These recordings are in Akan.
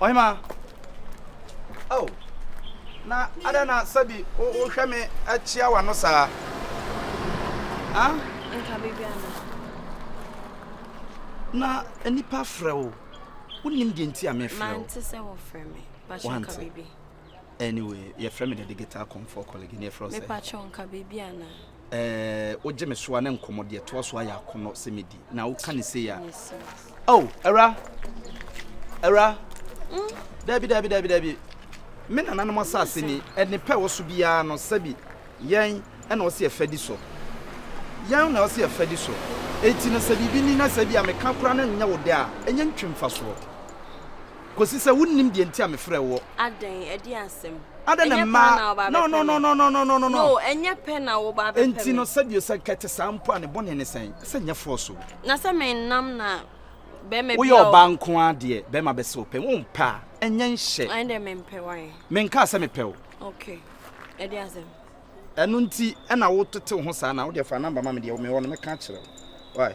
Ɔhemaa, Oh, na adɛn na sɛbi wohwɛ me akyia w'ano saa? Ah? Nka biribi ana? Na nnipa frɛ wo. Wonnim deɛ nti a mefrɛ wo. Mante sɛ wɔfrɛ me. Pakyɛ nka biribi. Anyway, yɛfrɛ me the digital comfort colleague. Ne yɛfrɛ wo sɛ. Mepakyɛ nka biribi ana? Ɛɛ, wogye me so a na nkɔmmɔ deɛ ɛtoa so ayɛ akɔnnɔ sɛ medi, na woka ne sei a. Oh, awura! Awura! Mm. Dabi, dabi, dabi, dabi. Me nananom asase ni, ɛne pɛ wɔ so biara no, sɛbi, yɛn na ɔsi ɛfɛ di so. Yɛn na ɔsi ɛfɛ di so. Eti no sɛ biribi ni na sɛ bi a meka koraa na nyɛ wo dɛ a, ɛnyɛ ntwe mfasoɔ. Kɔsi sɛ wonnim deɛ nti a mefrɛɛ woɔ. Adɛn, ɛdeɛn asɛm? Adɛn na Ɛnyɛ pɛ mmaa. ara na woba No, abɛpɛ no, no, me. no, no, no, no, no, no. No, ɛnyɛ pɛ na woba abɛpɛ Enti me. no, sɛdeɛ sɛ anka ɛte saa mpo a, ne bɔne ne sɛn? Sɛ nyɛ force o. Na sɛ mennam na barima bi Woyɛ a ɔ. ɔbaa nko ara deɛ, barima bɛsɛ wo pɛn. Wompɛ a, ɛnyɛ nhyɛ. Ɛnde mempɛ, why? Menkaa sɛ mepɛ o. Ok, ɛdeɛn asɛm? Ɛno nti na wotetew ho saa no a, wo deɛ fa number ma me deɛ mewɔ no mɛka akyerɛ wo. Why?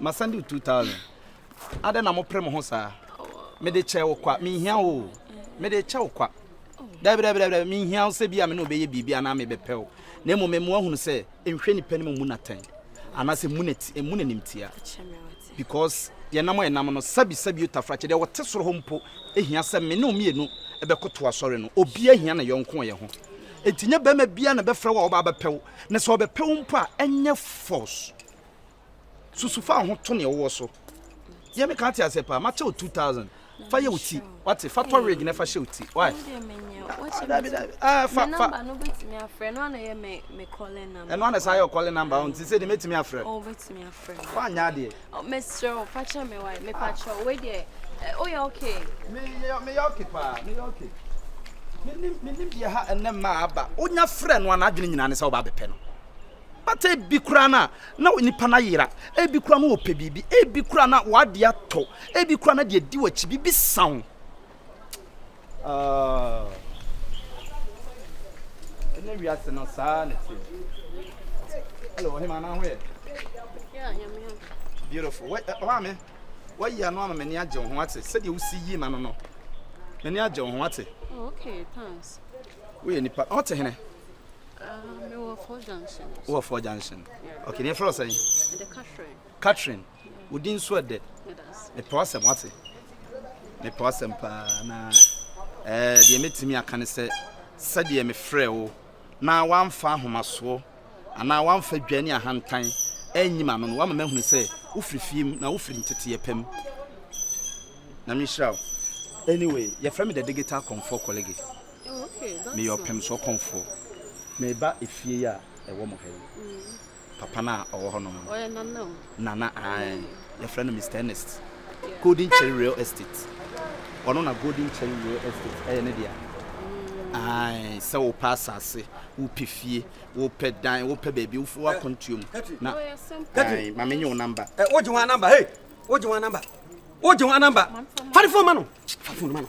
Masan de two thousand. Adɛn na mopere mo ho saa? Mede kyɛ wo kwa, menhia wo o. Mede kyɛ wo kwa. Dabi, dabi, dabi, dabi, menhia wo sɛ bi a me ne wobɛyɛ biribi anaa mebɛpɛ wo. Na mmom mema woahunu sɛ nhwɛ nipa anim mmu no atɛn anaasɛ mmu no ati, mmu no animtia. Because deɛ nam a ɛnam no, sabi sabi o tafrakye, deɛ ɔte soro hɔ mpo hia sɛ me ne wo mmienu bɛkoto asɔre no. Obiara hia ne yɔnko yɛ ho. Enti nyɛ barima biara na ɛbɛfrɛ wo a ɔba abɛpɛ wo. Na sɛ ɔbɛpɛ wo mpo a, ɛnyɛ force. susu fa ho to nea wowɔ so yɛ me kan te asɛ paa makyɛ wo 2000 fa yɛ wo ti wate fa tɔ wig na fa hyɛ wo ti why ah fa fa ɛno ana saa yɛ ɔkɔle namba wo nti sɛ de mɛtumi afrɛ fa nyɛ adeɛ mesrɛ wo fa kyerɛ me wae mepakyɛ wei deɛ woyɛ oh, okay meyɛ okay paa meyɛ okay menim deɛ ha ɛnɛ mmaa aba wonya frɛ no a n'adwene nyinaa ne sɛ wobaa bɛpɛ no But ebi koraa no a, na nipa no ayera, ebi koraa no ɔpɛ biribi, ebi koraa na w'adeɛ atɔ, ebi koraa na deɛ di w'akyi biribi sa wo. Ah, ɛnɛ wiase no saa na ɛteɛ. Hello, ɔhema anaa ho yɛ? Beautiful. Wɔ- ɛ, Ɔmaame, wayi ano ama m'ani agye wo ho ate sɛdeɛ wosi yi ma no no. M'ani agye wo ho ate. Oh, okay, thanks. Woyɛ nipa ɔte hene. wowɔ fɔ junction ok ne ɛfrɛ sɛn catherine wodi nso ɛdɛ mepɛ wasɛm wate mepɛ wasɛm paa na eh, deɛ mɛtumi aka ne sɛ sɛdeɛ mefrɛ wo na wamfa ahomasoɔ anaa wamfa dwa ne ahantan anyi ma no no wama mahunu sɛ wofiri fie mu na wofiri nteteɛ pam na menhyira wo anyway yɛfrɛ me the digital comfort colleague Meyɛ ɔpem so ɔkɔmfoɔ. Meba efie yi a ɛwɔ mo ha yi. Papa no a ɔwɔ hɔ nom no. Nana ae. Yɛfrɛ no Mister Ernest. Golden Cherry Real Estate. Ɔno na Golden Cherry Real Estate ɛyɛ ne dea. Ae, sɛ wopɛ asase, wopɛ fie, wopɛ dan, wopɛ baabi wofi wo akwantuo mu na ae, ma menye wo namba. Wogye ho anamba, hey! Wogye ho anamba. Wogye ho anamba. Fa ne fon ma no. Fa fon no ma no.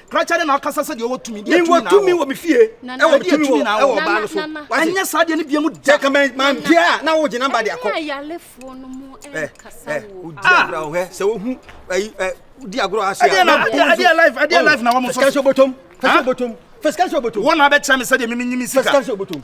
krakyɛ ne na ɔkasa sɛ deɛ ɔwɔ tumi deɛ tumi na tumi wɔ me fie ɛwɔ me tumi wɔ ɛwɔ ɔbaa no so ɛnyɛ saa deɛ ne bia mu da ka mɛ ma deɛ a na wogye namba deɛ akɔ ɛ ɛ wodi agorɔ ahwɛ sɛ wohu ɛyi ɛ wodi agorɔ ase a ɛdeɛ na ɛdeɛ life ɛdeɛ life na wɔn so fɛsikɛnsi obotom fɛsikɛnsi obotom fɛsikɛnsi obotom wɔn na abɛkyerɛ me sɛ deɛ mimi nyimi sika fɛsikɛnsi obotom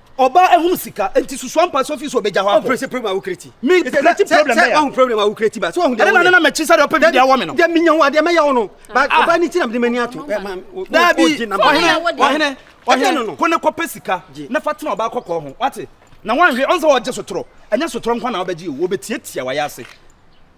Ɔbaa ɛhom sika nti susua mpa sɛ ɔfii so ɔbɛgya hɔ akɔ. Ɔmpere sɛ problem a wokura ti. Me sɛ sɛ wahu problem a wokura ti ba sɛ wahu deɛ wɔyɛ. Ɛne na ne na mɛkyi sɛ deɛ ɔpɛ bi deɛ awɔ me no. Deɛ menya wo adeɛ mɛyɛ wo no. Ba ah. ɔbaa ne ti na mede m'ani ato. Daabi ɔhene ɔhene ɔhene ko ne kɔpɛ sika na fa tena ɔbaa kɔkɔɔ ho wate na wanhwe ɔnsɛ wɔgye sotorɔ ɛnyɛ sotorɔ nkwa na wobɛgye o wɔbɛtiatia wayɛ ase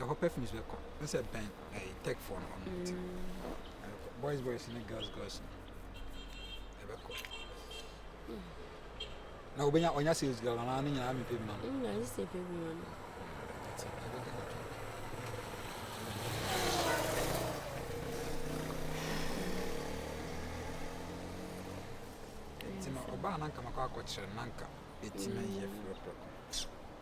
ɛhɔ perfumes bɛkɔ ne sɛ bɛn ɛyɛ tech phone hɔ no nti boys boys ne girls girls no ɛbɛkɔ na wobɛnya ɔnya sales girl anaa ne nyinaa mepɛ bi ma no na ɛsɛ pɛ bi ma no nti no ɔbaa na nka makɔ akɔkyerɛ na nka ɛtumi yɛ frɛprɛ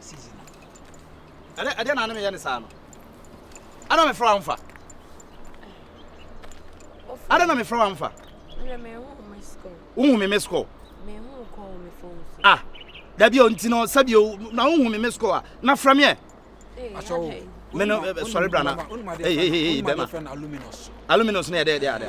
season no ɛdɛ ɛdɛ na anameyɛ ne saa no ana mefrɛ wa mfa ada na mefrɛ wa mfa wohu me miss call ah dabi a ɔnti no sɛbio na wohu me miss call a na frɛ meɛ me no sɔre bra na bɛma aluminus ne ɛdɛ ɛdɛ ada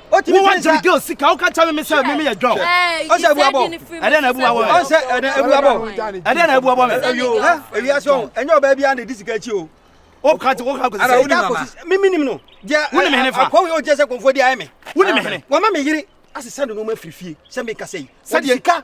Wotumi ka ne sɛ girl sika woka kyɛ me sɛ meme yɛ dwɔ ɔsɛ abu abɔ ɛdɛ na abu abɔ me ɔsɛ ɛdɛ abu abɔ ɛdɛ na abu abɔ me ewia sɛ ɔn ɛnyɛ ɔbaa bi a na ɛdi sika akyi o woka te woka kɔsi sɛ ɛda kɔsi me me nim no wone me hene fa akɔwe yɛ ɔgyɛ sɛ kɔmfoɔ di ayɛ me wone me hene wɔma me yere asesa ne nneɛma firi fie sɛ meka sɛ yi sɛdeɛ nka